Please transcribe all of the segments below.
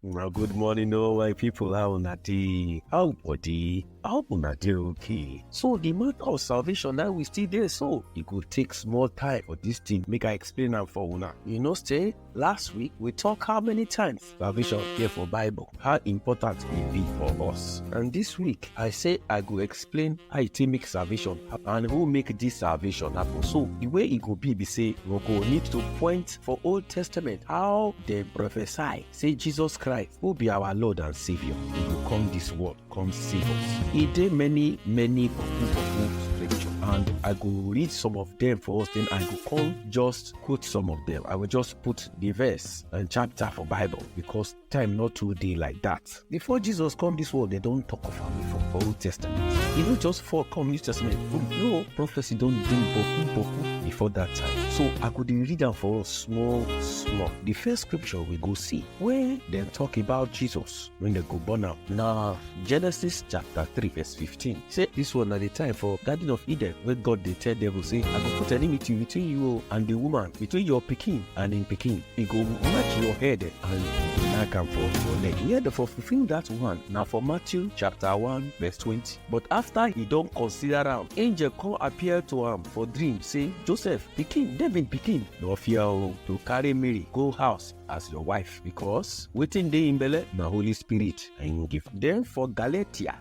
Well, good morning, all my people. How na dey? How body? How una dey okay? So the matter of salvation now we still dey so e go take small time for this thing make I explain am for una. You know say last week we talk how many times salvation appear for Bible, how important e be for us. And this week I say I go explain how e take make salvation happen and who make this salvation happen. So the way e go be be say we go need to point for Old Testament how dem prophesy say jesus christ who be our lord and saviour e go come dis world come save us e dey many many boku boku scripture and i go read some of dem for us then i go come just quote some of dem i go just put the verse and chapter for bible because time no too dey like that Before Jesus come this world, they don't talk of am before for Old Testament. He no just fall come New Testament. Boom. No prophecy don do boku boku before that time. So I go dey read am for us small small. The first scripture we go see where dem talk about Jesus when dem go born am na Genesis chapter three verse fifteen. Say this one na the time for Garden of Eden wey God dey tell devil say, I go put enmity between you o and the woman, between your pikin and im pikin. E go match your head and you go knack am for your leg. Here dem for fulfill that one na for Matthew chapter 1 verse 20. But after he don consider am, angel come appear to am for dream say, Joseph, pikin, David pikin, no fear o to carry Mary go house as your wife because wetin dey im belle na Holy Spirit na im give. Then for Galatia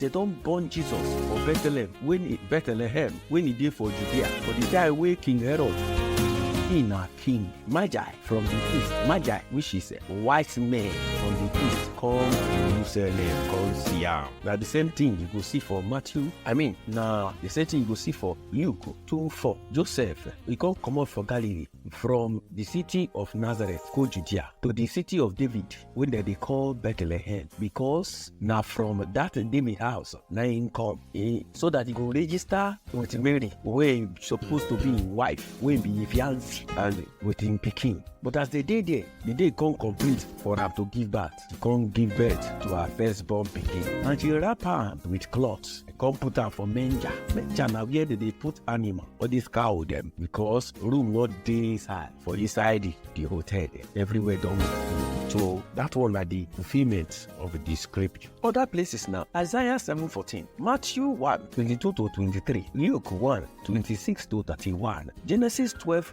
dem don born jesus for bethlehem wen e bethlehem wen e dey for judea for di time wey king herod he na king magi from di east magi which is wise men from di east come jerusalem come see am na di same thing you go see for matthew i mean na di same thing you go see for luke 2 4 joseph e come comot for galilee From the city of Nazareth go Judea to the city of David wey dem dey call Bethlehem because na from that David house na him come eh, so that he go register with Mary wey suppose to be him wife wey be him fiancé and with him pikin. But as they dey there, the day come complete for am to give birth. to come give birth to her firstborn pikin and she wrap am with cloth come put am for manger manger na where dem dey put animal all these cow dem because room no dey inside for inside the, the hotel dem everywhere don full so that one na the fulfilment of the scripture other places na isaiah seven fourteen matthew one twenty-two to twenty-three luke one twenty-six to thirty-one genesis twelve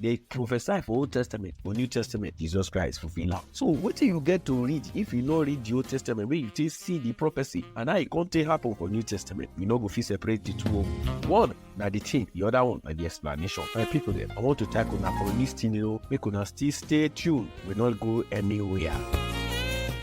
dey prophesy for old testament for new testament jesus christ fulfil am so wetin you get to read if you no read the old testament wey you take see the prophecy and how e come take happen for new testament you no go fit separate the two o one na the thing the other one na the explanation my people dem i want to thank una for lis ten ing o make una still stay tuned we no go anywhere.